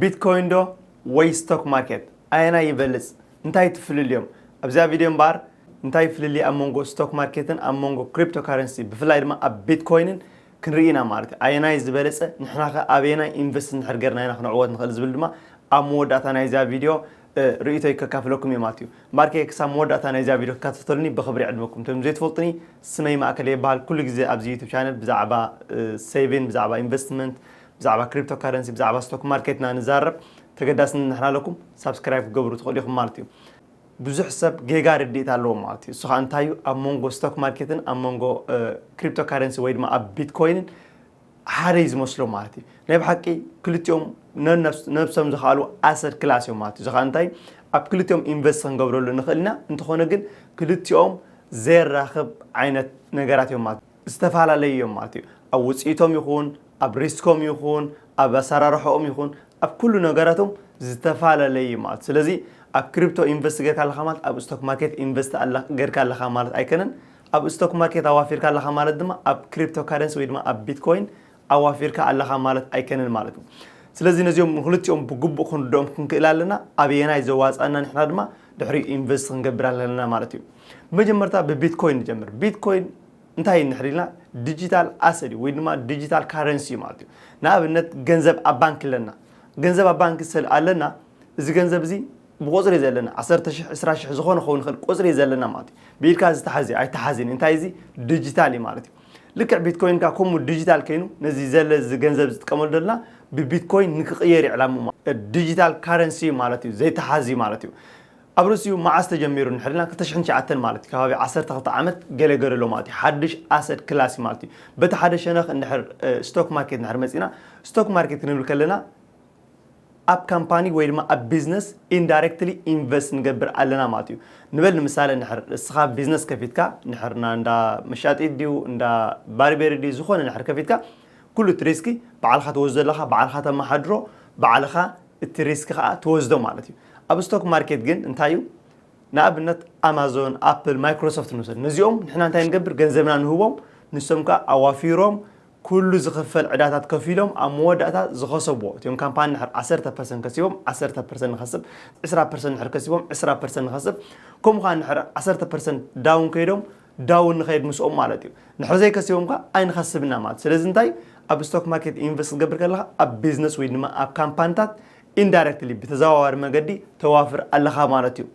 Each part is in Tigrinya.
ቢትኮይን ዶ ወይ ስቶክ ማርኬት ኣየናይ ይበልጽ እንታይ ትፍልልዮም ኣብዚኣ ቪድዮ እምበኣር እንታይ ፍልልይ ኣብ መንጎ ስቶክ ማርኬትን ኣብ መንጎ ክሪፕቶ ካረንሲ ብፍላይ ድማ ኣብ ቢትኮይንን ክንርኢ ኢና ማለት እዩ ኣየናይ ዝበለጸ ንሕና ከ ኣበየናይ ኢንቨስት እንድሕር ጌርና ኢና ክንዕወት ንኽእል ዝብል ድማ ኣብ መወዳእታ ናይዚኣ ቪድዮ ርእይቶይ ከካፍለኩም እየ ማለት እዩ እምበኣር ከ ክሳብ መወዳእታ ናይዚኣ ቪድዮ ክትካትተሉኒ ብኽብሪ ይዕድመኩም እቶም ዘይትፈልጡኒ ስመይ ማእከለ ይበሃል ኩሉ ግዜ ኣብዚ ዩቱብ ቻነል ብዛዕባ ሴቪን ብዛዕባ ኢንቨስትመንት ብዛዕባ ክሪፕቶ ካረንሲ ብዛዕባ ስቶክ ማርኬት እና ንዛረብ ተገዳስነት ንሕና ኣለኩም ሳብስክራይብ ክትገብሩ ትኽእሉ ኢኹም ማለት እዩ ብዙሕ ሰብ ጌጋ ርድኢት ኣለዎ ማለት እዩ እሱ ከዓ እንታይ እዩ ኣብ መንጎ ስቶክ ማርኬትን ኣብ መንጎ ክሪፕቶ ካረንሲ ወይ ድማ ኣብ ቢትኮይንን ሓደ እዩ ዝመስሎ ማለት እዩ ናይ ብሓቂ ክልቲኦም ነብሶም ዝኸኣሉ ኣሰድ ክላስ እዮም ማለት እዩ እዚ ከዓ እንታይ ኣብ ክልቲኦም ኢንቨስት ክንገብረሉ ንኽእል ኢና እንተኾነ ግን ክልቲኦም ዘራኽብ ዓይነት ነገራት እዮም ማለት እዩ ዝተፈላለዩ እዮም ማለት እዩ። ኣብ ውፅኢቶም ይኹን፣ ኣብ ሪስኮም ይኹን፣ ኣብ ኣሰራርሐኦም ይኹን፣ ኣብ ኩሉ ነገራቶም ዝተፈላለየ እዩ ማለት እዩ። ስለዚ ኣብ ክሪፕቶ ኢንቨስት ጌርካ ኣለኻ ማለት ኣብ ስቶክ ማርኬት ኢንቨስት ጌርካ ኣለኻ ማለት ኣይከነን። ኣብ ስቶክ ማርኬት ኣዋፊርካ ኣለኻ ማለት ድማ ኣብ ክሪፕቶ ካረንሲ ወይ ድማ ኣብ ቢትኮይን ኣዋፊርካ ኣለኻ ማለት ኣይከንን ማለት እዩ። ስለዚ ነዚኦም ንክልቲኦም ብግቡእ ክንርድኦም ክንክእል ኣለና፣ ኣበየናይ ዘዋጽኣና ንሕና ድማ ድሕሪኡ ኢንቨስት ክንገብር ኣለና ማለት እዩ። ብመጀመርታ ብቢትኮይን ንጀምር። ቢትኮይን እንታይ እዩ እንድሕር ኢልና ዲጂታል ኣሰት እዩ ወይ ድማ ዲጂታል ካረንሲ እዩ ማለት እዩ። ንኣብነት ገንዘብ ኣብ ባንኪ ኣለና። ገንዘብ ኣብ ባንኪ ስለ ኣለና እዚ ገንዘብ እዚ ብቁጽሪ እዩ ዘለና ዓሰርተ ሽሕ ዕስራ ሽሕ ዝኾነ ክኸውን ይኽእል ቁጽሪ እዩ ዘለና ማለት እዩ። ብኢድካ ዝተሓዝ ኣይተሓዝን እዩ። እንታይ እዚ ዲጂታል እዩ ማለት እዩ። ልክዕ ቢትኮይን ከኣ ከምኡ ዲጂታል ከይኑ ነዚ ዘለ እዚ ገንዘብ ዝጥቀመሉ ዘለና ብቢትኮይን ንክቕየር እዩ ዕላምኡ ማ- እ፣ ዲጂታል ካረንሲ እዩ ማለት እዩ ዘይተሓዝ እዩ ማለት እዩ ኣብ ርእሲኡ መዓስ ተጀሚሩ እንድሕሪልና ክልተ ሽሕን ትሽዓተን ማለት እዩ ከባቢ ዓሰርተ ክልተ ዓመት ገለ ገለ ኣሎ ማለት እዩ ሓድሽ ኣሰት ክላስ እዩ ማለት እዩ በቲ ሓደ ሸነኽ እንድሕር እ፣ ስቶክ ማርኬት እንድሕር መጺእና ስቶክ ማርኬት ክንብል ከለና ኣብ ካምፓኒ ወይ ድማ ኣብ ቢዝነስ ኢንዳይረክትሊ ኢንቨስት ንገብር ኣለና ማለት እዩ። ንበል ንምሳሌ እንድሕር ንስኻ ቢዝነስ ከፊትካ እንድሕር እንዳ መሻጢት ድዩ እንዳ ባርቤሪ ድዩ ዝኾነ እንድሕር ከፊትካ ኩሉ እቲ ሪስኪ ባዕልኻ ትወስዶ ኣለኻ ባዕልኻ ተመሓድሮ ባዕልኻ እቲ ሪስኪ ኸኣ ትወስዶ ማለት እዩ። ኣብ ስቶክ ማርኬት ግን እንታይ እዩ ንኣብነት ኣማዞን ኣፕል ማይክሮሶፍት ንውሰድ ነዚኦም ንሕና እንታይ ንገብር ገንዘብና ንህቦም ንሶም ከኣ ኣዋፊሮም ኩሉ ዝኽፈል ዕዳታት ከፊሎም ኣብ መወዳእታ ዝኸሰብዎ እቲም ካምፓኒ ንድሕር ዓሰርተ ፐርሰንት ከሲቦም ዓሰርተ ፐርሰንት ንኸስብ ዕስራ ፐርሰንት ንድሕር ከሲቦም ዕስራ ፐርሰንት ንኸስብ ከምኡ ከኣ ንድሕር ዓሰርተ ፐርሰንት ዳውን ከይዶም ዳውን ንኸይድ ምስኦም ማለት እዩ ንድሕር ዘይከሲቦም ከኣ ኣይንኸስብን ኢና ማለት ስለዚ እንታይ ኣብ ስቶክ ማርኬት ኢንቨስት ክትገብር ከለኻ ኣብ ቢዝነስ ወይ ድማ ኣብ ካምፓኒታት ኢንዳይረክትሊ ብተዘዋዋሪ መገዲ ተዋፍር ኣለኻ ማለት እዩ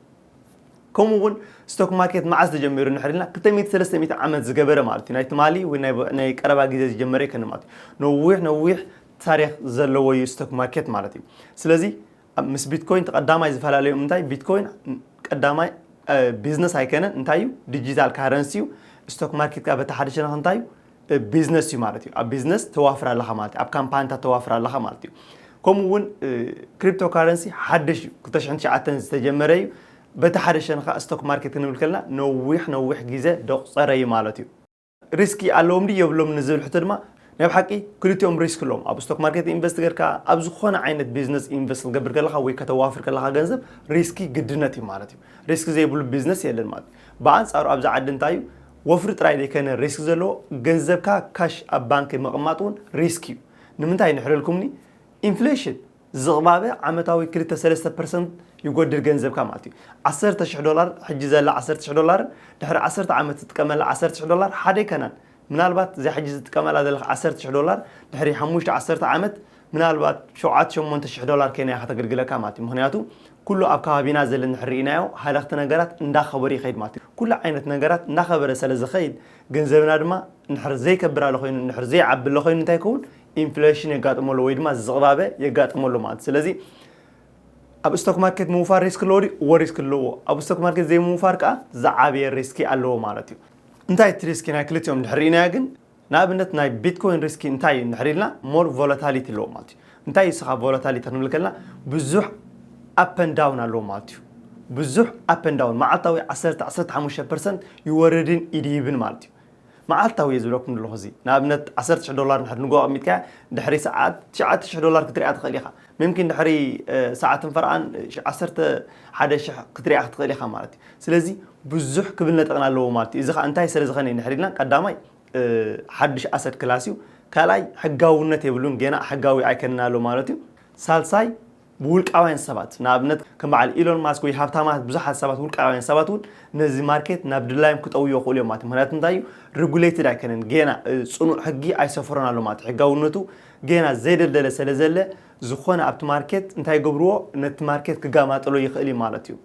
ከምኡ ውን ስቶክ ማርኬት መዓዝ ተጀሚሩ እንድሕር ኢልና ክልተ ሚእቲ ሰለስተ ሚእቲ ዓመት ዝገበረ ማለት እዩ ናይ ትማሊ ወይ ናይ ብ- ናይ ቀረባ ግዜ ዝጀመረ ኣይኮነን ማለት እዩ ነዊሕ ነዊሕ ታሪክ ዘለዎ እዩ ስቶክ ማርኬት ማለት እዩ ስለዚ ኣብ- ምስ ቢትኮይን እቲ ቀዳማይ ዝፈላለዮም እንታይ ቢትኮይን ን- ቀዳማይ ቢዝነስ ኣይከነን እንታይ እዩ ዲጂታል ካረንሲ እዩ ስቶክ ማርኬት ከኣ በቲ ሓደ ሸነኽ እንታይ እዩ ብ ቢዝነስ እዩ ማለት እዩ ኣብ ቢዝነስ ተዋፍር ኣለኻ ማለት እዩ ኣብ ካምፓንታት ተዋፍር ኣለኻ ማለት እዩ ከምኡ እውን ክሪፕቶ ካረንሲ ሓድሽ እዩ ክልተ ሽሕን ትሽዓተን ዝተጀመረ እዩ በቲ ሓደ ሸነ ከዓ ስቶክ ማርኬት ክንብል ከለና ነዊሕ ነዊሕ ግዜ ደቑፀረ እዩ ማለት እዩ ሪስኪ ኣለዎም ድዩ የብሎም ንዝብል ሕቶ ድማ ናይ ብሓቂ ክልቲኦም ሪስክ ኣለዎም ኣብ ስቶክ ማርኬት ኢንቨስት ገርካ ኣብ ዝኾነ ዓይነት ቢዝነስ ኢንቨስት ክገብር ከለካ ወይ ከተዋፍር ከለካ ገንዘብ ሪስኪ ግድነት እዩ ማለት እዩ ሪስክ ዘይብሉ ቢዝነስ የለን ማለት እዩ ብኣንፃሩ ኣብዚ ዓዲ እንታይ እዩ ወፍሪ ጥራይ ዘይከነ ሪስክ ዘለዎ ገንዘብካ ካሽ ኣብ ባንኪ ምቕማጥ እውን ሪስክ እዩ ንምንታይ ንሕረልኩምኒ ኢንፍሌሽን ዝቕባበ ዓመታዊ ክልተ ሰለስተ ፐርሰንት ይጎድል ገንዘብካ ማለት እዩ ዓሰርተ ሽሕ ዶላር ሕጂ ዘላ ዓሰርተ ሽሕ ዶላርን ድሕሪ ዓሰርተ ዓመት ዝጥቀመላ ዓሰርተ ሽሕ ዶላር ሓደ ኣይከናን ምናልባት እዚኣ ሕጂ ዝጥቀመላ ዘለኻ ዓሰርተ ሽሕ ዶላር ድሕሪ ሓሙሽተ ዓሰርተ ዓመት ምናልባት ሸውዓተ ሸሞንተ ሽሕ ዶላር ኬንያ ከተግልግለካ ማለት እዩ ምኽንያቱ ኩሉ ኣብ ከባቢና ዘለ እንድሕር ርኢናዮ ሃለኽቲ ነገራት እንዳኸበሩ ይኸይድ ማለት እዩ ኩሉ ዓይነት ነገራት እንዳኸበረ ሰለ ዝኸይድ ገንዘብና ድማ እንድሕር ዘይከብር ኣለ ኮይኑ እንድሕር ዘይዓቢ ኣለ ኮይኑ እንታይ ይከውን ኢንፍለሽን የጋጥሞ ኣሎ ወይ ድማ ዝቕባበ የጋጥሞ ኣሎ ማለት ስለዚ ኣብ ስቶክ ማርኬት ምውፋር ሪስክ ኣለዎ ድዩ እዎ ሪስክ ኣለዎ ኣብ ስቶክ ማርኬት ዘይምውፋር ከዓ ዝዓበየ ሪስኪ ኣለዎ ማለት እዩ እንታይ እቲ ሪስኪ ናይ ክልቲኦም እንድሕር ርኢናዮ ግን ንኣብነት ናይ ቢትኮይን ሪስኪ እንታይ እዩ እንድሕር ኢልና ሞር ቮላታሊቲ ኣለዎ ማለት እዩ እንታይ እዩ ስኻ ቮላታሊቲ ክንብል ከለና ብዙሕ ኣፐንዳውን ኣለዎ ማለት እዩ ብዙሕ ኣፐንዳውን መዓልታዊ 10 15 ፐርሰንት ይወርድን ይድይብን ማለት እዩ መዓልታዊ እየ ዝብለኩም ዘለኹ እዚ ንኣብነት 10 ሽሕ ዶላር ንድሕር ንጎ ኣቕሚጥካያ ድሕሪ ሰዓት 9 ሽሕ ዶላር ክትሪኣ ትኽእል ኢኻ ምምኪን ድሕሪ ሰዓትን ፈርቓን ዓሰርተ ሓደ ሽሕ ክትሪኣ ክትኽእል ኢኻ ማለት እዩ። ስለዚ ብዙሕ ክብል ነጠቕን ኣለዎ ማለት እዩ። እዚ ኸኣ እንታይ ስለ ዝኸነ እዩ እንድሕር ኢልና ቀዳማይ ሓድሽ ኣሰድ ክላስ እዩ። ካልኣይ ሕጋውነት የብሉን ጌና ሕጋዊ ኣይከንን ኣሎ ማለት እዩ። ሳልሳይ ብውልቃውያን ሰባት ንኣብነት ከም በዓል ኢሎን ማስክ ወይ ሃብታማት ብዙሓት ሰባት ውልቃውያን ሰባት እውን ነዚ ማርኬት ናብ ድላዮም ክጠውዮ ይኽእሉ እዮም ማለት እዩ። ምክንያቱ እንታይ እዩ ሬጉሌትድ ኣይከንን ጌና ጽኑዕ ሕጊ ኣይሰፈሮን ኣሎ ማለት እዩ። ሕጋውነቱ ጌና ዘይደልደለ ሰለ ዘለ ዝኾነ ኣብቲ ማርኬት እንታይ ይገብርዎ ነቲ ማርኬት ክጋማጥሎ ይኽእል እዩ ማለት እዩ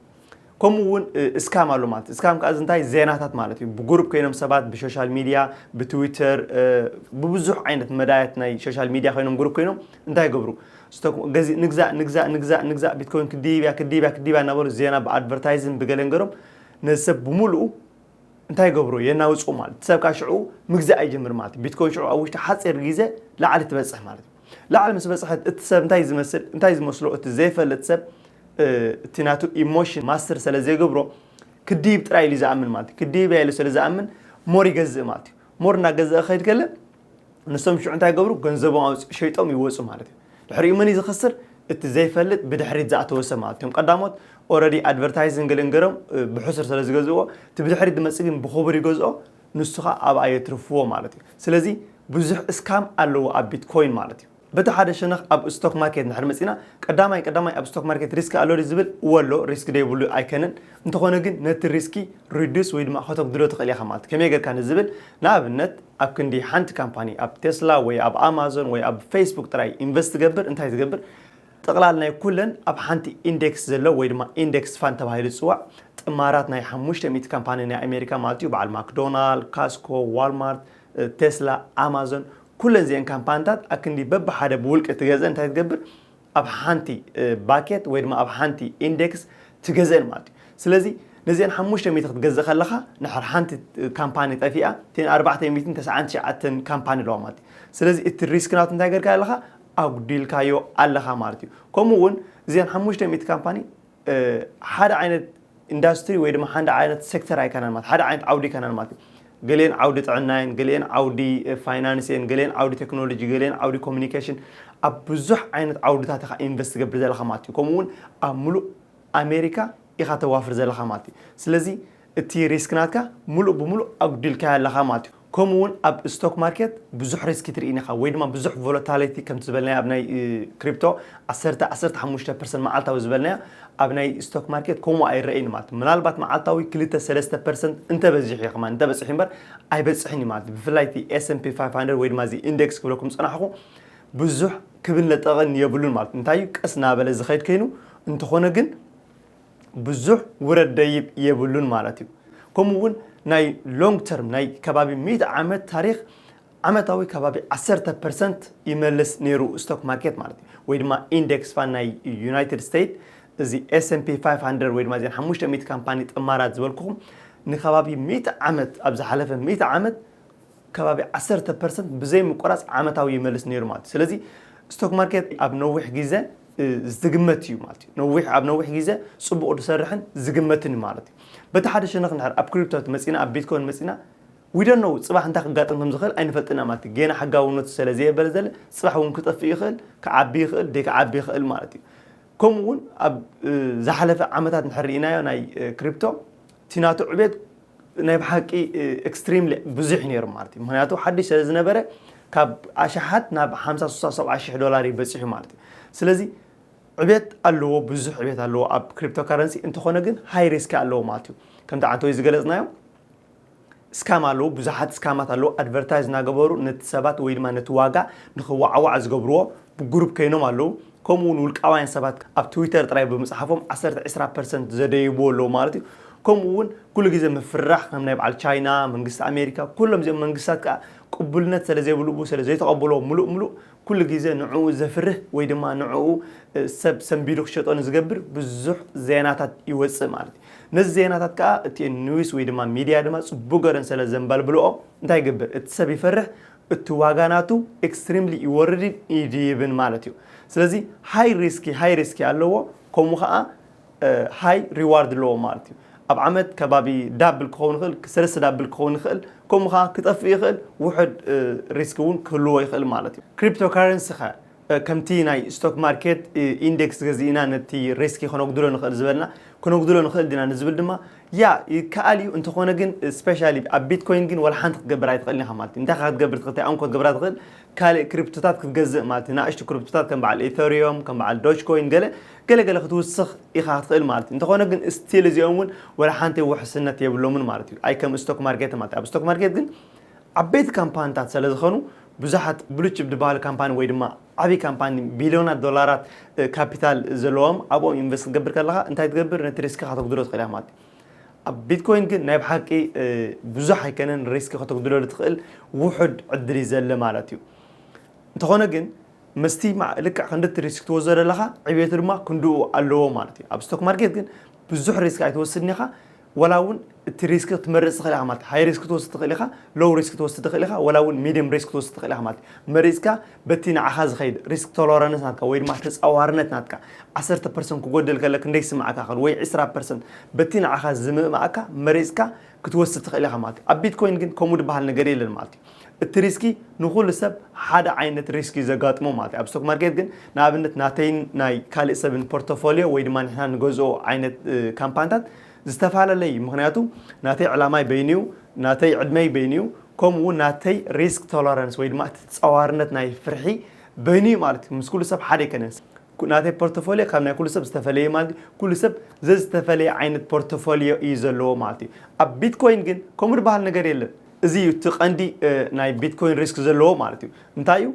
ከምኡ እውን እስካም ኣሎ ማለት እስካም ከዓ እንታይ ዜናታት ማለት እዩ ብጉሩብ ኮይኖም ሰባት ብሶሻል ሚድያ ብትዊተር ብብዙሕ ዓይነት መዳያት ናይ ሶሻል ሚድያ ኮይኖም ጉሩብ ኮይኖም እንታይ ይገብሩ ንግዛእ ንግዛእ ንግዛእ ንግዛእ ቢትኮይን ክድይብ እያ ክድይብ እያ ክድይብ እያ እናበሉ ዜና ብኣድቨርታይዝን ብገለን ገሮም ነዚ ሰብ ብምልኡ እንታይ ይገብሩ የናውጽኡ ማለት እቲ ሰብ ካብ ሽዑ ምግዛእ ይጅምር ማለት እዩ ቢትኮይን ሽዑ ኣብ ውሽጢ ሓጺር ግዜ ላዕሊ ትበጽሕ ማለት እዩ ላዕሊ ምስ በጽሐት እቲ ሰብ እንታይ ዝመስል እንታይ ዝመስሎ እቲ ዘይፈልጥ ሰብ እቲ ናቱ ኢሞሽን ማስተር ስለ ዘይገብሮ ክድይብ ጥራይ ኢሉ ዝኣምን ማለት እዩ ክድይብ ኢሉ ስለ ዝኣምን ሞር ይገዝእ ማለት እዩ ሞር እናገዝአ ክኸይድ ከለ ንሶም ሽዑ እንታይ ይገብሩ ገንዘቦም ኣውጽ ሸይጦም ይወጹ ማለት እዩ ድሕሪኡ መን እዩ ዝኸስር እቲ ዘይፈልጥ ብድሕሪት ዝኣተወ ሰብ ማለት እዮም ቀዳሞት ኦረዲ ኣድቨርታይዝን ገለን ገሮም ብሕሱር ስለ ዝገዝእዎ እቲ ብድሕሪት ዝመጽእ ግን ብኽቡር ይገዝኦ ንሱ ከዓ ኣብኣ የትርፍዎ ማለት እዩ ስለዚ ብዙሕ እስካም ኣለዎ ኣብ ቢትኮይን ማለት እዩ በቲ ሓደ ሸነኽ ኣብ ስቶክ ማርኬት እንድሕር መጺእና ቀዳማይ ቀዳማይ ኣብ ስቶክ ማርኬት ሪስክ ኣሎ ድዩ ዝብል እወ ኣሎ ሪስክ ደይብሉ ኣይከነን እንተኾነ ግን ነቲ ሪስኪ ሪዱስ ወይ ድማ ከተጉድሎ ትኽእል ኢኻ ማለት ከመይ ጌርካ ንዝብል ንኣብነት ኣብ ክንዲ ሓንቲ ካምፓኒ ኣብ ቴስላ ወይ ኣብ ኣማዞን ወይ ኣብ ፌስቡክ ጥራይ ኢንቨስት ትገብር እንታይ ትገብር ጥቕላል ናይ ኩለን ኣብ ሓንቲ ኢንዴክስ ዘሎ ወይ ድማ ኢንዴክስ ፋንድ ተባሂሉ ዝጽዋዕ ጥማራት ናይ ሓሙሽተ ሚእቲ ካምፓኒ ናይ ኣሜሪካ ማለት እዩ በዓል ማክዶናል ካስኮ ዋልማርት ቴስላ፣ ኣማዞን ኩለን እዚኤን ካምፓንታት ኣክንዲ በብሓደ ብውልቂ ትገዝእን እንታይ ትገብር ኣብ ሓንቲ ባኬት ወይ ድማ ኣብ ሓንቲ ኢንዴክስ ትገዝእን ማለት እዩ ስለዚ ነዚኤን ሓሙሽተ ሚእቲ ክትገዝእ ከለኻ ንሓር ሓንቲ ካምፓኒ ጠፊኣ እተን ኣርባዕተ ሚእትን ተስዓን ትሽዓተን ካምፓኒ ኣለዋ ማለት እዩ ስለዚ እቲ ሪስክ ናቱ እንታይ ገርካ ኣለኻ ኣጉዲልካዮ ኣለኻ ማለት እዩ ከምኡ እውን እዚኤን ሓሙሽተ ሚእቲ ካምፓኒ ሓደ ዓይነት ኢንዳስትሪ ወይ ድማ ሓደ ዓይነት ሴክተር ኣይከናን ማለት ሓደ ዓይነት ዓውዲ ኣይከናን ማለት እዩ ገሊኤን ዓውዲ ጥዕና እየን ገሊኤን ዓውዲ ፋይናንስ እየን ገሊኤን ዓውዲ ቴክኖሎጂ ገሊኤን ዓውዲ ኮሚኒኬሽን ኣብ ብዙሕ ዓይነት ዓውድታት ኢኻ ኢንቨስት ትገብር ዘለኻ ማለት እዩ ከምኡ እውን ኣብ ምሉእ ኣሜሪካ ኢኻ ተዋፍር ዘለኻ ማለት እዩ ስለዚ እቲ ሪስክ ናትካ ምሉእ ብምሉእ ኣጉዲልካዮ ኣለኻ ማለት እዩ። ከምኡ እውን ኣብ ስቶክ ማርኬት ብዙሕ ሪስክ ትርኢን ኢኻ ወይ ድማ ብዙሕ ቮለታሊቲ ከምቲ ዝበልናዮ ኣብ ናይ ክሪፕቶ ዓሰርተ፣ ዓሰርተ ሓሙሽተ ፐርሰንት መዓልታዊ ዝበልናዮ ኣብ ናይ ስቶክ ማርኬት ከምኡ ኣይረኣይን ማለት እዩ። ምናልባት መዓልታዊ ክልተ፣ ሰለስተ ፐርሰንት እንተበዚሑ እዩ ከማን እንተበፂሑ እምበር ኣይበፅሕን እዩ ማለት እዩ። ብፍላይ እቲ ኤስ ፒ ፋይፍ ሃንድረድ ወይ ድማ እዚ ኢንደክስ ክብለኩም ዝፀናሕኹ ብዙሕ ክብን ለጠቕን የብሉን ማለት እዩ። እንታይ እዩ ቀስ እናበለ ዝኸይድ ከይኑ እንተኾነ ግን ብዙሕ ውረድ ደይብ የብሉን ማለት እዩ። ከምኡ እውን ናይ long term ናይ ከባቢ ሚእቲ ዓመት ታሪኽ ዓመታዊ ከባቢ ዓሰርተ ፐርሰንት ይመልስ ነይሩ ስቶክ ማርኬት ማለት እዩ። ወይ ድማ ኢንዴክስ ፋን ናይ ዩናይትድ ስቴትስ እዚ ኤስኤምፒ 500 ወይ ድማ እዘን ሓሙሽተ ሚእቲ ካምፓኒ ጥማራት ዝበልኩኹም ንከባቢ ሚእቲ ዓመት ኣብ ዝሓለፈ ሚእቲ ዓመት ከባቢ ዓሰርተ ፐርሰንት ብዘይ ምቁራጽ ዓመታዊ ይመልስ ነይሩ ማለት እዩ። ስለዚ ስቶክ ማርኬት ኣብ ነዊሕ ግዘ ዝግመት እዩ ማለት እዩ። ነዊሕ ኣብ ነዊሕ ግዘ ጽቡቕ ዝሰርሕን ዝግመትን እዩ ማለት እዩ። በቲ ሓደ ሸነኽ እንድሕር ኣብ ክሪፕቶ መጺእና ኣብ ቢትኮይን መጺእና we don't know ጽባሕ እንታይ ክጋጥም ከም ዝኽእል ኣይንፈልጥን ኢና ማለት እዩ። ጌና ሕጋውነቱ ሰለ ዘየበለ ዘለ ጽባሕ እውን ክጠፍእ ይኽእል፣ ክዓቢ ይኽእል፣ ዘይክዓቢ ይኽእል ማለት እዩ። ከምኡ እውን ኣብ ዝሓለፈ ዓመታት እንድሕር ርኢናዮ ናይ ክሪፕቶ እቲ ናቱ ዕቤት ናይ ብሓቂ ኤክስትሪምሊ ብዙሕ እዩ ነይሩ ማለት እዩ ምክንያቱ ሓድሽ ስለ ዝነበረ ካብ ኣሽሓት ናብ ሓምሳ ስሳ ሰብዓ ሽሕ ዶላር እዩ በፂሑ ማለት እዩ ስለዚ ዕቤት ኣለዎ ብዙሕ ዕቤት ኣለዎ ኣብ ክሪፕቶ ካረንሲ እንተኾነ ግን ሃይ ሪስኪ ኣለዎ ማለት እዩ ከምቲ ዓንተወይ ዝገለፅናዮ ስካም ኣለዉ ብዙሓት ስካማት ኣለዉ ኣድቨርታይዝ ናገበሩ ነቲ ሰባት ወይ ድማ ነቲ ዋጋ ንኽዋዓዋዕ ዝገብርዎ ብጉሩብ ከይኖም ኣለዉ ከምኡ ውን ውልቃውያን ሰባት ኣብ ትዊተር ጥራይ ብምጽሓፎም ዓሰርተ ዕስራ ፐርሰንት ዘደይብዎ ኣለዉ ማለት እዩ ከምኡ ውን ኩሉ ግዜ ምፍርራሕ ከም ናይ በዓል ቻይና መንግስቲ ኣሜሪካ ኩሎም እዚኦም መንግስታት ከኣ ቅቡልነት ሰለ ዘይብልቡ ሰለ ዘይተቐብሎ ምሉእ ምሉእ ኩሉ ግዜ ንዕኡ ዘፍርህ ወይ ድማ ንዕኡ ሰብ ሰንቢዱ ክሸጦ ንዝገብር ብዙሕ ዜናታት ይወጽእ ማለት እዩ። ነዚ ዜናታት ከኣ እቲ ኒውስ ወይ ድማ ሚድያ ድማ ጽቡቅ ገረን ሰለ ዘንበልብልኦ እንታይ ይገብር እቲ ሰብ ይፈርሕ እቲ ዋጋ ናቱ ኤክስትሪምሊ ይወርድን ይድይብን ማለት እዩ ስለዚ ሃይ ሪስኪ ሃይ ሪስኪ ኣለዎ ከምኡ ከኣ ሃይ ሪዋርድ ኣለዎ ማለት እዩ ኣብ ዓመት ከባቢ ዳብል ክኸውን ይኽእል ሰለስተ ዳብል ክኸውን ይኽእል ከምኡ ከኣ ክጠፍእ ይኽእል ውሑድ ሪስኪ እውን ክህልዎ ይኽእል ማለት እዩ ክሪፕቶ ካረንሲ ከ ከምቲ ናይ ስቶክ ማርኬት ኢንደክስ ገዚእና ነቲ ሪስኪ ከነጉድሎ ንኽእል ዝበልና ክነጉድሎ ንኽእል ዲና ንዝብል ድማ ያ ይከኣል እዩ እንተኾነ ግን ስፔሻሊ ኣብ ቢትኮይን ግን ዋላ ሓንቲ ክትገብር ኣይትኽእልን ኢኻ ማለት እዩ እንታይ ኢኻ ክትገብር ትኽእል እንታይ እኮ ክትገብራ ትኽእል ካልእ ክሪፕቶታት ክትገዝእ ማለት እዩ ንኣሽቱ ክሪፕቶታት ከም በዓል ኢተሪዮም ከም በዓል ዶጅ ኮይን ገለ ገለ ገለ ክትውስኽ ኢኻ ክትኽእል ማለት እዩ እንተኾነ ግን ስቲል እዚኦም እውን ዋላ ሓንቲ ውሕስነት የብሎምን ማለት እዩ ኣይ ከም ስቶክ ማርኬት ማለት እዩ ኣብ ስቶክ ማርኬት ግን ዓበይቲ ካምፓኒታት ስለዝኾኑ ብዙሓት ብሉጭ ድበሃሉ ካምፓኒ ወይ ድማ ዓብይ ካምፓኒ ቢልዮናት ዶላራት ካፒታል ዘለዎም ኣብኦም ኢንቨስት ክትገብር ከለኻ እንታይ ትገብር ነቲ ሪስክኻ ተጉድሎ ትኽእል ኢኻ ማለት እዩ ኣብ ቢትኮይን ግን ናይ ብሓቂ ብዙሕ ኣይከነን ሪስክ ከተጉድለሉ ትኽእል ውሑድ ዕድል እዩ ዘለ ማለት እዩ እንተኾነ ግን ምስቲ ልክዕ ክንዲ እቲ ሪስክ ትወስዶ ዘለኻ ዕብየቱ ድማ ክንድኡ ኣለዎ ማለት እዩ ኣብ ስቶክ ማርኬት ግን ብዙሕ ሪስክ ኣይትወስድን ኢኻ ወላ እውን እቲ ሪስክ ክትመርፅ ትኽእል ኢኻ ማለት እዩ። ሃይ ሪስክ ክትወስድ ትኽእል ኢኻ፣ ሎው ሪስክ ክትወስድ ትኽእል ኢኻ፣ ወላ እውን ሚድየም ሪስክ ክትወስድ ትኽእል ኢኻ ማለት እዩ። መሪፅካ በቲ ንዓኻ ዝኸይድ ሪስክ ቶለረንስ ናትካ ወይ ድማ ተፃዋርነት ናትካ ዓሰርተ ፐርሰንት ክጎድል ከሎ ክንደይ ይስመዓካ ይኽእል ወይ ዕስራ ፐርሰንት በቲ ንዓኻ ዝምእመኣካ መሪፅካ ክትወስድ ትኽእል ኢኻ ማለት እዩ። ኣብ ቢትኮይን ግን ከምኡ ድበሃል ነገር የለን ማለት እዩ። እቲ ሪስኪ ንኹሉ ሰብ ሓደ ዓይነት ሪስኪ ዘጋጥሞ ማለት እዩ። ኣብ ስቶክ ማርኬት ግን ንኣብነት ናተይን ናይ ካልእ ሰብን ፖርቶፎልዮ ወይ ድማ ንሕና ንገዝኦ ዓይነት ካምፓንታት ዝተፈላለለ እዩ። ምኽንያቱ ናተይ ዕላማይ በይኑ እዩ፣ ናተይ ዕድመይ በይኑ እዩ፣ ከምኡ እውን ናተይ ሪስክ ቶለረንስ ወይ ድማ እቲ ተጻዋርነት ናይ ፍርሒ በይኑ እዩ ማለት እዩ። ምስ ኩሉ ሰብ ሓደ ኣይከነን። ናተይ ፖርቶፎልዮ ካብ ናይ ኩሉ ሰብ ዝተፈለየ እዩ ማለት እዩ። ኩሉ ሰብ ዘዝተፈለየ ዓይነት ፖርቶፎልዮ እዩ ዘለዎ ማለት እዩ። ኣብ ቢትኮይን ግን ከምኡ ዝበሃል ነገር የለን። እዚ እዩ እቲ ቀንዲ ናይ ቢትኮይን ሪስክ ዘለዎ ማለት እዩ። እንታይ እዩ?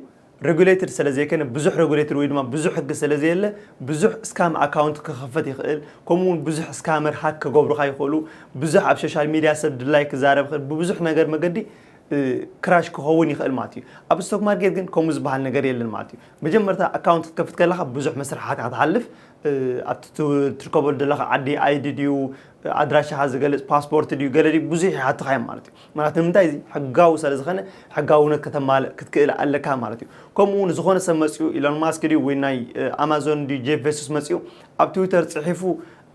ረጉሌትድ ሰለዘይከነ ብዙሕ ረጉሌትድ ወይ ድማ ብዙሕ ሕጊ ሰለዘየለ ብዙሕ እስካም ኣካውንት ክኸፈት ይኽእል ከምኡ ውን ብዙሕ እስካመር ሃክ ከገብሩኻ ይኽእሉ ብዙሕ ኣብ ሾሻል ሚድያ ሰብ ድላይ ክዛረብ ይኽእል ብብዙሕ ነገር መገዲ ክራሽ ክኸውን ይኽእል ማለት እዩ። ኣብ ስቶክ ማርኬት ግን ከምኡ ዝበሃል ነገር የለን ማለት እዩ። መጀመርታ ኣካውንት ክትከፍት ከለኻ ብዙሕ መስርሓት ኢኻ ትሓልፍ ኣብቲ ትርከበሉ ዘለኻ ዓዲ ኣይዲ ድዩ ኣድራሻኻ ዝገልጽ ፓስፖርት ድዩ ገለ ድዩ ብዙሕ ይሓትኻ እዮም ማለት እዩ ማለት ንምንታይ እዚ ሕጋዊ ስለ ዝኸነ ሕጋውነት ከተማልእ ክትክእል ኣለካ ማለት እዩ ከምኡ እውን ዝኾነ ሰብ መፅኡ ኢሎን ማስክ ድዩ ወይ ናይ ኣማዞን ድዩ ጄፍ ቬሱስ መፅኡ ኣብ ትዊተር ፅሒፉ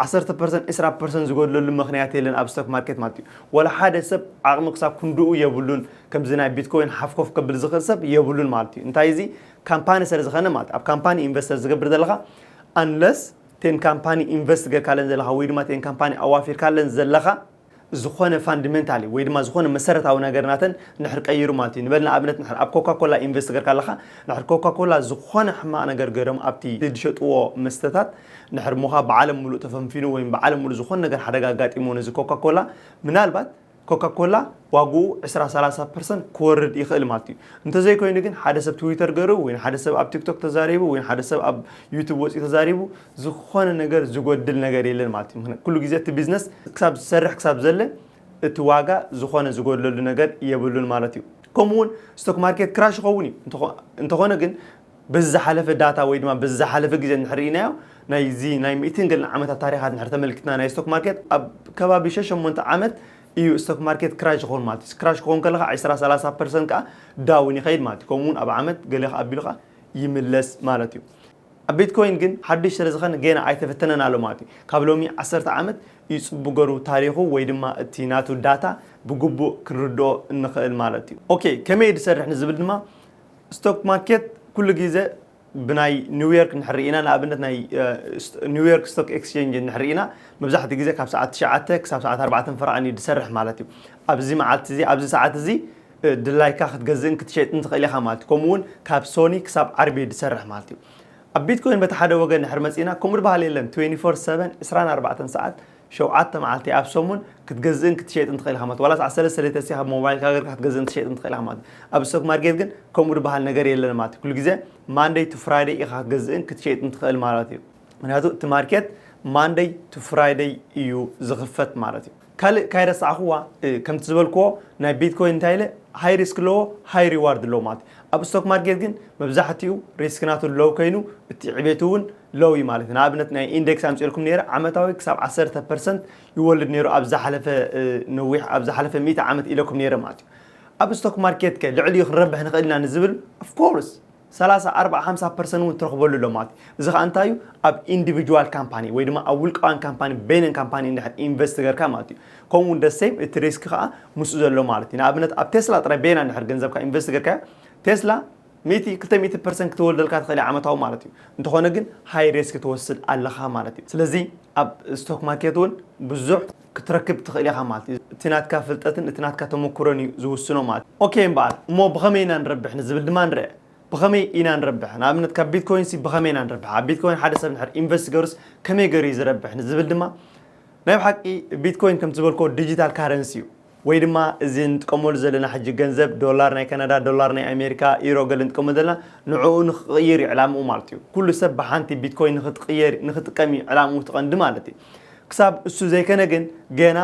ዓሰርተ ፐርሰንት ዕስራ ፐርሰንት ዝጎድለሉ ምክንያት የለን ኣብ ስቶክ ማርኬት ማለት እዩ ወላ ሓደ ሰብ ዓቕሚ ክሳብ ክንድኡ የብሉን ከምዚ ናይ ቢትኮይን ሓፍ ኮፍ ከብል ዝኽእል ሰብ የብሉን ማለት እዩ እንታይ እዚ ካምፓኒ ስለ ዝኸነ ማለት ኣብ ካምፓኒ ኢንቨስተር ዝገብር ዘለኻ ኣንለስ እተን ካምፓኒ ኢንቨስት ገርካለን ዘለኻ ወይ ድማ እተን ካምፓኒ ኣዋፊርካለን ዘለኻ ዝኾነ ፋንድመንታሊ ወይ ድማ ዝኾነ መሰረታዊ ነገር ናተን ንድሕር ቀይሩ ማለት እዩ ንበል ንኣብነት ንድሕር ኣብ ኮካ ኮላ ኢንቨስት ገርካ ኣለኻ ንድሕር ኮካ ኮላ ዝኾነ ሕማቕ ነገር ገሮም ኣብቲ ድሸጥዎ መስተታት ንድሕር ሞኻ ብዓለም ምሉእ ተፈንፊኑ ወይም ብዓለም ምሉእ ዝኾነ ነገር ሓደጋ ኣጋጢምዎ ነዚ ኮካ ኮላ ምናልባት ኮካኮላ ዋግኡ ዕስራ ሰላሳ ፐርሰንት ክወርድ ይኽእል ማለት እዩ። እንተዘይኮይኑ ግን ሓደ ሰብ ትዊተር ገይሩ ወይ ንሓደ ሰብ ኣብ ቲክቶክ ተዛሪቡ ወይ ንሓደ ሰብ ኣብ ዩቱብ ወፂኡ ተዛሪቡ ዝኾነ ነገር ዝጎድል ነገር የለን ማለት እዩ። ምኽንያቱ ኩሉ ግዜ እቲ ቢዝነስ ክሳብ ዝሰርሕ ክሳብ ዘለ እቲ ዋጋ ዝኾነ ዝጎድለሉ ነገር የብሉን ማለት እዩ። ከምኡ እውን ስቶክ ማርኬት ክራሽ ይኸውን እዩ እንተኾነ ግን በዚ ዝሓለፈ ዳታ ወይ ድማ በዚ ዝሓለፈ ግዜ እንድሕር ርኢናዮ ናይዚ ናይ ሚእትን ገለን ዓመታት ታሪኻት እንድሕር ተመልኪትና ናይ ስቶክ ማርኬት ኣብ ከባቢ ሸ ሸሞንተ ዓመት ኢዩ ስቶክ ማርኬት ክራሽ ዝኸውን ማለት ኢዩ። ክራሽ ክኸውን ከሎ ከኣ ዕስራ ሰላሳ ፐርሰንት ከኣ ዳውን ይኸይድ ማለት ኢዩ። ከምኡ ውን ኣብ ዓመት ገለ ከኣ ኣቢሉ ከኣ ይምለስ ማለት ኢዩ። ኣብ ቢትኮይን ግን ሓዱሽ ስለ ዝኸነ ገና ኣይተፈተነን ኣሎ ማለት ኢዩ። ካብ ሎሚ ዓሰርተ ዓመት ኢዩ ጽቡቅ ገሩ ታሪኹ ወይ ድማ እቲ ናቱ ዳታ ብግቡእ ክንርድኦ እንኸእል ማለት ኢዩ። ኦኬ ከመይ ኢዩ ዝሰርሕ ንዝብል ድማ ስቶክ ማርኬት ኩሉ ግዜ ብናይ ኒውዮርክ እንድሕር ርኢና ንኣብነት ናይ ኒውዮርክ ስቶክ ኤክስቼንጅ እንድሕር ርኢና መብዛሕትኡ ግዜ ካብ ሰዓት ትሽዓተ ክሳብ ሰዓት ኣርባዕተን ፈረቓን እዩ ዝሰርሕ ማለት እዩ። ኣብዚ መዓልቲ እዚ ኣብዚ ሰዓት እዚ ድላይካ ክትገዝእን ክትሸጥን ትኽእል ኢኻ ማለት እዩ። ከምኡ እውን ካብ ሶኒ ክሳብ ዓርቢ እዩ ዝሰርሕ ማለት እዩ። ኣብ ቢትኮይን በቲ ሓደ ወገን እንድሕር መፂእና ከምኡ ዝበሃል የለን ትዌንቲ ፎር ሰቨን ዕስራን ኣርባዕተን ሰዓት ሸውዓተ መዓልቲ፣ ኣብ ሰሙን፣ ክትገዝእን ክትሸጥን ትኽእል ኢኻ ማለት፣ ዋላ ሰዓት ሰለስተ ለይተ ሲኻ ብሞባይልካ ገርካ ክትገዝእን ክትሸጥን ትኽእል ኢኻ ማለት እዩ። ኣብ ስቶክ ማርኬት ግን ከምኡ ድበሃል ነገር የለን ማለት እዩ። ኩሉ ግዜ ማንደይ ቱ ፍራይደይ ኢኻ ክትገዝእን ክትሸይጥን ትኽእል ማለት እዩ። ምክንያቱ እቲ ማርኬት ማንደይ ቱ ፍራይደይ እዩ ዝኽፈት ማለት እዩ። ካልእ ካይረሳዕክዋ ከምቲ ዝበልክዎ ናይ ቢትኮይን እንታይ ኢለ ሃይ ሪስክ ኣለዎ ሃይ ሪዋርድ ኣለዎ ማለት እዩ። ኣብ ስቶክ ማርኬት ግን መብዛሕትኡ ሪስክ ናቱ ሎው ከይኑ እቲ ዕቤቱ እውን ሎው እዩ ማለት እዩ። ንኣብነት ናይ ኢንደክስ ኣምጺእልኩም ነይረ፣ ዓመታዊ ክሳብ ዓሰርተ ፐርሰንት ይወልድ ነይሩ ኣብ ዝሓለፈ ነዊሕ ኣብ ዝሓለፈ ሚእቲ ዓመት ኢለኩም ነይረ ማለት እዩ። ኣብ ስቶክ ማርኬት ከ ልዕሊኡ ክንረብሕ ንኽእል ኢና ንዝብል ኦፍ ኮርስ ሰላሳ፣ ኣርብዓ፣ ሓምሳ ፐርሰንት እውን ትረኽበሉ ኣሎ ማለት እዩ። እዚ ከኣ እንታይ እዩ ኣብ ኢንዲቪጁዋል ካምፓኒ ወይ ድማ ኣብ ውልቃውያን ካምፓኒ በይነን ካምፓኒ እንድሕር ኢንቨስት ገርካ ማለት እዩ። ከምኡ እውን the same እቲ ሪስክ ከኣ ምስኡ ዘሎ ማለት እዩ። ንኣብነት ኣብ ቴስላ ጥራይ በይና እንድሕር ገንዘብካ ኢንቨስት ገርካዮ ቴስላ ሚእቲ ክልተ ሚእቲ ፐርሰንት ክተወልደልካ ትኽእል እያ ዓመታዊ ማለት እዩ እንተኾነ ግን ሃይ ሬስክ ትወስድ ኣለኻ ማለት እዩ ስለዚ ኣብ ስቶክ ማርኬት እውን ብዙሕ ክትረክብ ትኽእል ኢኻ ማለት እዩ እቲ ናትካ ፍልጠትን እቲ ናትካ ተመኩሮን እዩ ዝውስኖ ማለት እዩ ኦኬ እምበኣር እሞ ብኸመይ ኢና ንረብሕ ንዝብል ድማ ንርኣ ብኸመይ ኢና ንረብሕ ንኣብነት ካብ ቢትኮይን ሲ ብኸመይ ኢና ንረብሕ ኣብ ቢትኮይን ሓደ ሰብ ንድሕር ኢንቨስት ገሩስ ከመይ ገሩ እዩ ዝረብሕ ንዝብል ድማ ናይ ብሓቂ ቢትኮይን ከምቲ ዝበልኮ ዲጂታል ካረንሲ እዩ ወይ ድማ እዚ ንጥቀመሉ ዘለና ሕጂ ገንዘብ ዶላር ናይ ካናዳ ዶላር ናይ ኣሜሪካ ኢሮ ገለ ንጥቀመሉ ዘለና ንዕኡ ንኽቕይር እዩ ዕላምኡ ማለት እዩ ኩሉ ሰብ ብሓንቲ ቢትኮይን ንኽትቕየር ንኽጥቀም እዩ ዕላምኡ እቲ ቀንዲ ማለት እዩ ክሳብ እሱ ዘይከነ ግን ገና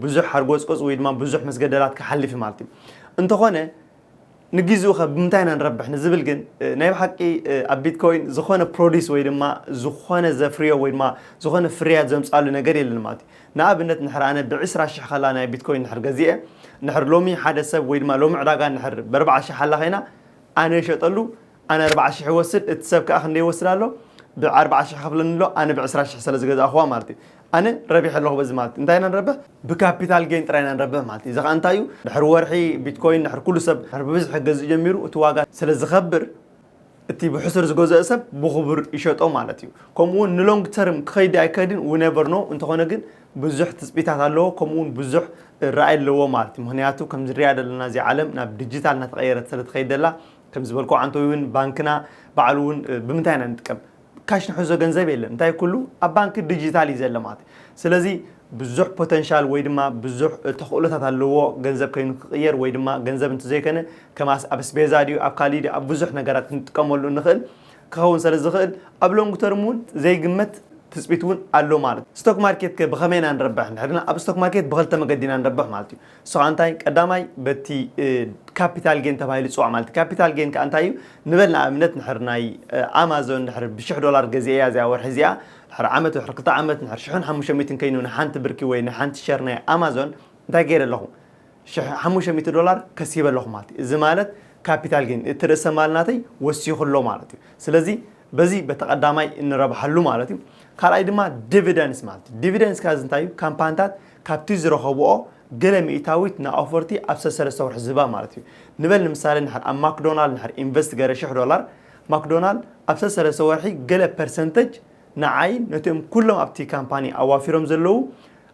ብዙሕ ሓርጎጽጎጽ ወይ ድማ ብዙሕ መስገደላት ክሓልፍ እዩ ማለት እዩ እንተኾነ ንግዚኡኸ ብምንታይ ኢና ንረብሕ ንዝብል ግን ናይ ብሓቂ ኣብ ቢትኮይን ዝኾነ ፕሮዲስ ወይ ድማ ዝኾነ ዘፍርዮ ወይ ድማ ዝኾነ ፍርያት ዘምጻሉ ነገር የለን ማለት እዩ። ንኣብነት ንሕር ኣነ ብዕስራ ሽሕ ከላ ናይ ቢትኮይን ንሕር ገዚኤ ንሕር ሎሚ ሓደ ሰብ ወይ ድማ ሎሚ ዕዳጋ ንሕር በርብዓ ሽሕ ኣላ ከይና ኣነ ይሸጠሉ ኣነ ኣርብዓ ሽሕ ይወስድ እቲ ሰብ ክኣ ክንደይ ይወስድ ኣሎ ብ ኣርብዓ ሽሕ ይከፍለኒ ኣሎ ኣነ ብ ዕስራ ሽሕ ሰለ ዝገዛእክዋ ማለት እዩ ኣነ ረቢሐ ኣለኩ በዚ ማለት እዩ እንታይ ኢና ንረብሕ ብ ካፒታል ጌን ጥራይ ኢና ንረብሕ ማለት እዩ እዚ ክኣ እንታይ እዩ ድሕሪ ወርሒ ቢትኮይን ድሕሪ ኩሉ ሰብ ድሕሪ ብብዝሒ ክገዝእ ጀሚሩ እቲ ዋጋ ስለ ዝከብር እቲ ብሕሱር ዝገዝኦ ሰብ ብኩቡር ይሸጦ ማለት እዩ ከምኡ ውን ን long term ክከይድ ኣይ ክከይድን we never know እንተኮነ ግን ብዙሕ ትጽቢታት ኣለዎ ከምኡ ውን ብዙሕ ራኢ ኣለዎ ማለት እዩ ምክንያቱ ከምዚ ንሪኣ ደለና እዚኣ ዓለም ናብ ዲጂታል ናተቀየረት ሰለ ትከይድ ደላ ከም ዝበልኩ ዓንቶይ ውን ባንክና ባዕሉ ውን ብምንታይ ኢና ንጥቀም ካሽ ንሕዞ ገንዘብ የለን እንታይ ኩሉ ኣብ ባንኪ ዲጂታል እዩ ዘሎ ማለት እዩ ስለዚ ብዙሕ ፖተንሻል ወይ ድማ ብዙሕ ተኽእሎታት ኣለዎ ገንዘብ ከይኑ ክቕየር ወይ ድማ ገንዘብ እንትዘይከነ ከም ኣብ ኣስቤዛ ድዩ ኣብ ካሊእ ድዩ ኣብ ብዙሕ ነገራት ክንጥቀመሉ እንኽእል ክኸውን ስለ ዝኽእል ኣብ ሎንግ ተርም ውን ዘይግመት ትፅቢት ውን ኣሎ ማለት እዩ። ስቶክ ማርኬት ከ ብኸመይ ኢና ንረብሕ? ንሕና ኣብ ስቶክ ማርኬት ብኽልተ መገዲ ኢና ንረብሕ ማለት እዩ። ንስኻ እንታይ ቀዳማይ በቲ ካፒታል ጌን ተባሂሉ ዝፅዋዕ ማለት ካፒታል ጌን ከዓ እንታይ እዩ ንበል ንኣብነት ንሕር ናይ ኣማዞን ንሕር ብሽሕ ዶላር ገዚኤያ እዚኣ ወርሒ እዚኣ ንሕር ዓመት ወሕር ክልተ ዓመት ንሕር ሽሕን ሓሙሽተ ሚእትን ከይኑ ንሓንቲ ብርኪ ወይ ንሓንቲ ሸር ናይ ኣማዞን እንታይ ገይረ ኣለኹ ሽሕ ሓሙሽተ ሚእቲ ዶላር ከሲበ ኣለኹ ማለት እዩ እዚ ማለት ካፒታል ጌን እቲ ርእሰ ማል ናተይ ወሲኹ ኣሎ ማለት እዩ ስለዚ በዚ በቲ ቀዳማይ እንረብሓሉ ማለት እዩ ካልኣይ ድማ ዲቪደንስ ማለት እዩ ዲቪደንስ ካዚ እንታይ እዩ ካምፓንታት ካብቲ ዝረኸብኦ ገለ ሚኢታዊት ንኣውፈርቲ ኣብ ሰሰለስተ ወርሒ ዝህባ ማለት እዩ። ንበል ንምሳሌ እንድሕር ኣብ ማክዶናል እንድሕር ኢንቨስት ገረ ሽሕ ዶላር፣ ማክዶናል ኣብ ሰሰለስተ ወርሒ ገለ ፐርሰንተጅ ንዓይን ነቲኦም ኩሎም ኣብቲ ካምፓኒ ኣዋፊሮም ዘለዉ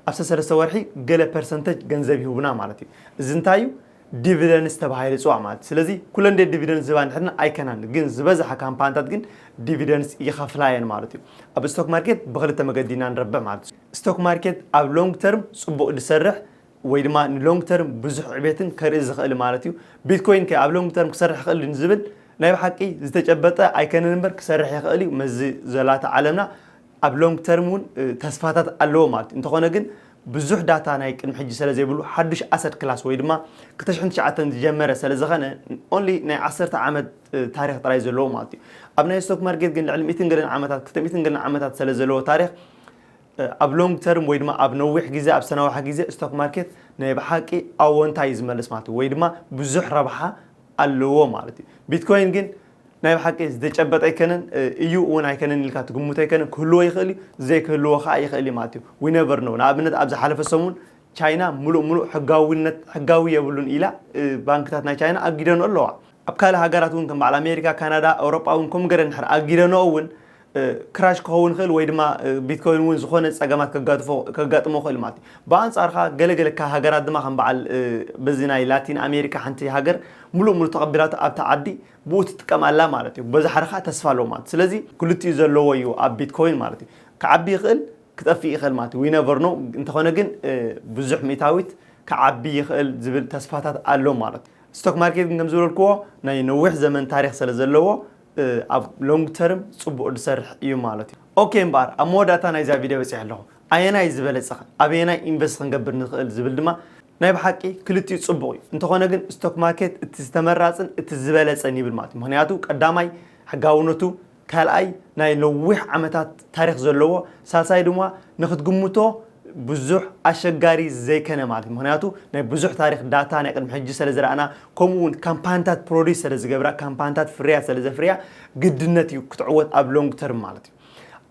ኣብ ሰሰለስተ ወርሒ ገለ ፐርሰንተጅ ገንዘብ ይህቡና ማለት እዩ። እዚ እንታይ እዩ? ዲቪደንስ ተባሂሉ ይጽዋዕ ማለት እዩ። ስለዚ ኩለን ድየን ዲቪደንስ ዝህባ እንድሕርና? ኣይከናን። ግን ዝበዝሓ ካምፓንታት ግን ዲቪደንስ ይኸፍላ እየን ማለት እዩ። ኣብ ስቶክ ማርኬት ብክልተ መገዲ ኢና ንረብሕ ማለት እዩ። ስቶክ ማርኬት ኣብ ሎንግ ተርም ጽቡቕ ዝሰርሕ ወይ ድማ ንሎንግ ተርም ብዙሕ ዕቤትን ከርኢ ዝኽእል ማለት እዩ። ቢትኮይን ከ ኣብ ሎንግ ተርም ክሰርሕ ይኽእል ድዩ ንዝብል ናይ ብሓቂ ዝተጨበጠ ኣይከነን እምበር ክሰርሕ ይኽእል እዩ ምስዚ ዘላቶ ዓለምና ኣብ ሎንግ ተርም እውን ተስፋታት ኣለዎ ማለት እዩ። እንተኾነ ግን ብዙሕ ዳታ ናይ ቅድሚ ሕጂ ሰለ ዘይብሉ ሓዱሽ ኣሰት ክላስ ወይ ድማ ክልተ ሽሕን ትሽዓተን ዝጀመረ ሰለ ዝኸነ ኦንሊ ናይ ዓሰርተ ዓመት ታሪኽ ጥራይ እዩ ዘለዎ ማለት እዩ። ኣብ ናይ ስቶክ ማርኬት ግን ልዕሊ ሚእትን ገለን ዓመታት ክልተ ሚእትን ገለን ዓመታት ሰለ ዘለዎ ታሪኽ ኣብ ሎንግ ተርም ወይ ድማ ኣብ ነዊሕ ግዜ ኣብ ዝተናውሐ ግዜ ስቶክ ማርኬት ናይ ብሓቂ ኣወንታ እዩ ዝመልስ ማለት ወይ ድማ ብዙሕ ረብሓ ኣለዎ ማለት እዩ ቢትኮይን ግን ናይ ብሓቂ ዝተጨበጠ ኣይከነን እዩ እውን ኣይከነን ኢልካ ትግምቶ ኣይከነን ክህልዎ ይኽእል እዩ ዘይክህልዎ ከዓ ይኽእል እዩ ማለት እዩ ዊነቨር ነው ንኣብነት ኣብ ዝሓለፈ ሰሙን ቻይና ሙሉእ ሙሉእ ሕጋዊነት ሕጋዊ የብሉን ኢላ ባንክታት ናይ ቻይና ኣጊደንኦ ኣለዋ ኣብ ካልእ ሃገራት እውን ከም በዓል ኣሜሪካ ካናዳ ኣውሮጳ እውን ከምኡ ገረን ድሕር ኣጊደንኦ እውን ክራሽ ክኸውን ይኽእል ወይ ድማ ቢትኮይን እውን ዝኾነ ጸገማት ከጋጥፎ ከጋጥሞ ይኽእል ማለት እዩ። ብኣንጻር ከኣ ገለ ገለ ካብ ሃገራት ድማ ከም በዓል በዚ ናይ ላቲን ኣሜሪካ ሓንቲ ሃገር ምሉእ ምሉእ ተቐቢላቶ ኣብታ ዓዲ ብኡ ትጥቀም ኣላ ማለት እዩ። በዚ ሓደ ከኣ ተስፋ ኣለዎ ማለት እዩ። ስለዚ ክልቲኡ ዘለዎ እዩ ኣብ ቢትኮይን ማለት እዩ። ክዓቢ ይኽእል ክጠፍእ ይኽእል ማለት እዩ። ዊ ነቨር ኖው እንተኾነ ግን ብዙሕ ሚእታዊት ክዓቢ ይኽእል ዝብል ተስፋታት ኣሎ ማለት እዩ። ስቶክ ማርኬት ግን ከም ዝበልክዎ ናይ ነዊሕ ዘመን ታሪኽ ስለ ዘለዎ ኣብ ሎንግ ተርም ጽቡቅ ድሰርሕ እዩ ማለት እዩ። ኦኬ እምበኣር ኣብ መወዳእታ ናይዛ ቪድዮ በጺሐ ኣለኹ። ኣየናይ ዝበለጸኸ ኣበየናይ ኢንቨስት ክንገብር ንኽእል ዝብል ድማ ናይ ብሓቂ ክልቲኡ ጽቡቅ እዩ እንተኾነ ግን ስቶክ ማርኬት እቲ ዝተመራጽን እቲ ዝበለጸን ይብል ማለት እዩ ምኽንያቱ ቀዳማይ ሕጋውነቱ ካልኣይ ናይ ነዊሕ ዓመታት ታሪኽ ዘለዎ ሳልሳይ ድማ ንኽትግምቶ ብዙሕ ኣሸጋሪ ዘይከነ ማለት ምክንያቱ ናይ ብዙሕ ታሪክ ዳታ ናይ ቅድሚ ሕጂ ሰለ ዝራኣና ከምኡ ውን ካምፓንታት ፕሮዲስ ሰለ ዝገብራ ካምፓንታት ፍርያት ሰለ ዘፍርያ ግድነት እዩ ክትዕወት ኣብ ሎንግ ተርም ማለት እዩ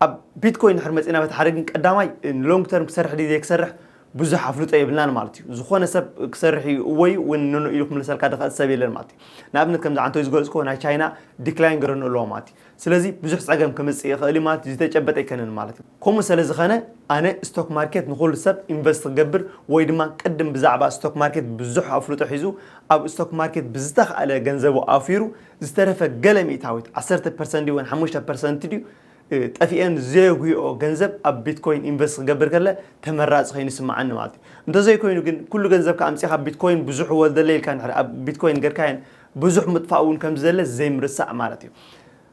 ኣብ ቢትኮይን ድሕር መጺና በቲ ሓደ ግን ቀዳማይ ሎንግ ተርም ክሰርሕ ድዩ ዘይክሰርሕ ብዙሕ ኣፍልጦ የብልናን ማለት እዩ ዝኾነ ሰብ ክሰርሕ እዩ እወይ ውን ኖኖ ኢሉ ክምልሰልካ ድኽእል ሰብ የለን ማለት እዩ ንኣብነት ከምዚ ዓንተይ ዝገልጽኮ ናይ ቻይና ዲክላይን ገረኑ ኣለዎ ማለት እዩ ስለዚ ብዙሕ ጸገም ከምጽእ ይኸእል እዩ ማለት ዝተጨበጠ ኣይከነን ማለት እዩ። ከምኡ ሰለዝኸነ ኣነ ስቶክ ማርኬት ንኹሉ ሰብ ኢንቨስት ክገብር ወይ ድማ ቅድም ብዛዕባ ስቶክ ማርኬት ብዙሕ ኣፍልጦ ሒዙ ኣብ ስቶክ ማርኬት ብዝተኻእለ ገንዘቡ ኣውፊሩ ዝተረፈ ገለ ሚእታዊት ዓሰርተ ፐርሰንት ድዩ ወን ሓሙሽተ ፐርሰንት ድዩ ጠፊኤን ዘየጉህኦ ገንዘብ ኣብ ቢትኮይን ኢንቨስት ክገብር ከለ ተመራጺ ከይኑ ይስምዓኒ ማለት እዩ። እንተዘይኮይኑ ግን ኩሉ ገንዘብካ ኣምጺኻ ቢትኮይን ብዙሕ ወልደለይ ኢልካ እንድሕር ኣብ ቢትኮይን ገርካየን ብዙሕ ምጥፋእ እውን ከም ዝደለ ዘይምርሳዕ ማለት እዩ።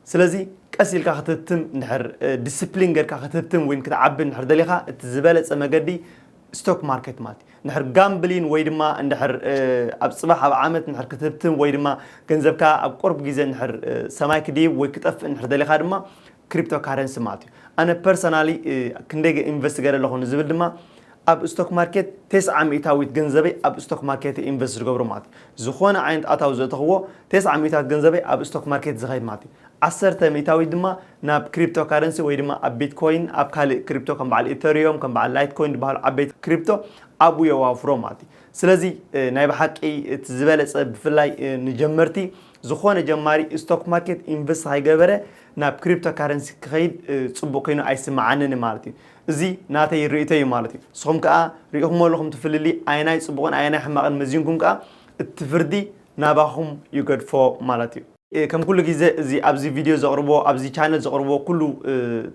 ስለዚ ቀስ ኢልካ ክትህብትም እንድሕር ዲስፕሊን ጌርካ ክትህብትም ወይን ክትዓቢ እንድሕር ደሊኻ እቲ ዝበለጸ መገዲ ስቶክ ማርኬት ማለት እዩ። እንድሕር ጋምብሊን ወይ ድማ እንድሕር ኣብ ጽባሕ ኣብ ዓመት እንድሕር ክትህብትም ወይ ድማ ገንዘብካ ኣብ ቁርብ ግዜ እንድሕር ሰማይ ክድይብ ወይ ክጠፍእ እንድሕር ደሊኻ ድማ ክሪፕቶ ካረንሲ ማለት እዩ። ኣነ ፐርሰናሊ ክንደይ ኢንቨስት ገይረ ኣለኹ ንዝብል ድማ ኣብ ስቶክ ማርኬት ተስዓ ሚእታዊት ገንዘበይ ኣብ ስቶክ ማርኬት እየ ኢንቨስት ዝገብሮ ማለት እዩ። ዝኾነ ዓይነት ኣታዊ ዘእተኽዎ ተስዓ ሚእታዊት ገንዘበይ ኣብ ስቶክ ማርኬት ዝኸይድ ማለት እዩ። ዓሰርተ ሚእታዊት ድማ ናብ ክሪፕቶ ካረንሲ ወይ ድማ ኣብ ቢትኮይን ኣብ ካልእ ክሪፕቶ ከም በዓል ኢተርዮም ከም በዓል ላይት ኮይን ዝበሃሉ ዓበይቲ ክሪፕቶ ኣብኡ የዋፍሮ ማለት እዩ። ስለዚ ናይ ብሓቂ እቲ ዝበለፀ ብፍላይ ንጀመርቲ ዝኾነ ጀማሪ ስቶክ ማርኬት ኢንቨስት ከይገበረ ናብ ክሪፕቶ ካረንሲ ክኸይድ ፅቡቕ ኮይኑ ኣይስመዓንን ማለት እዩ። እዚ ናተይ ርእይቶ እዩ ማለት እዩ። ንስኹም ከኣ ርኢኹሞ ኣለኹም እቲ ፍልልይ ኣየናይ ጽቡቕን ኣየናይ ሕማቕን መዚንኩም ከኣ እቲ ፍርዲ ናባኹም ይገድፎ ማለት እዩ። ከም ኩሉ ግዜ እዚ ኣብዚ ቪድዮ ዘቕርቦ ኣብዚ ቻነል ዘቕርቦ ኩሉ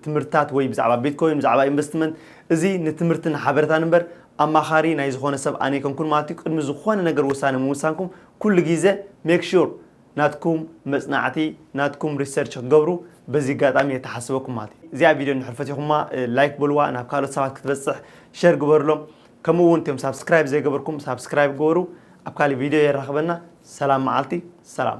ትምህርትታት ወይ ብዛዕባ ቢትኮይን ብዛዕባ ኢንቨስትመንት እዚ ንትምህርትን ሓበረታን እምበር ኣማኻሪ ናይ ዝኾነ ሰብ ኣነይከንኩን ማለት እዩ። ቅድሚ ዝኾነ ነገር ውሳነ ምውሳንኩም ኩሉ ግዜ ሜክ ሹር ናትኩም መጽናዕቲ ናትኩም ሪሰርች ክትገብሩ በዚ ኣጋጣሚ የተሓስበኩም ማለት እዩ። እዚኣ ቪድዮ እንድሕር ፈቲኹማ ላይክ በልዋ፣ ናብ ካልኦት ሰባት ክትበጽሕ ሸር ግበርሎም፣ ከምኡ እውን እቶም ሳብስክራይብ ዘይገበርኩም ሳብስክራይብ ግበሩ። ኣብ ካልእ ቪድዮ የራኽበና። ሰላም መዓልቲ፣ ሰላም።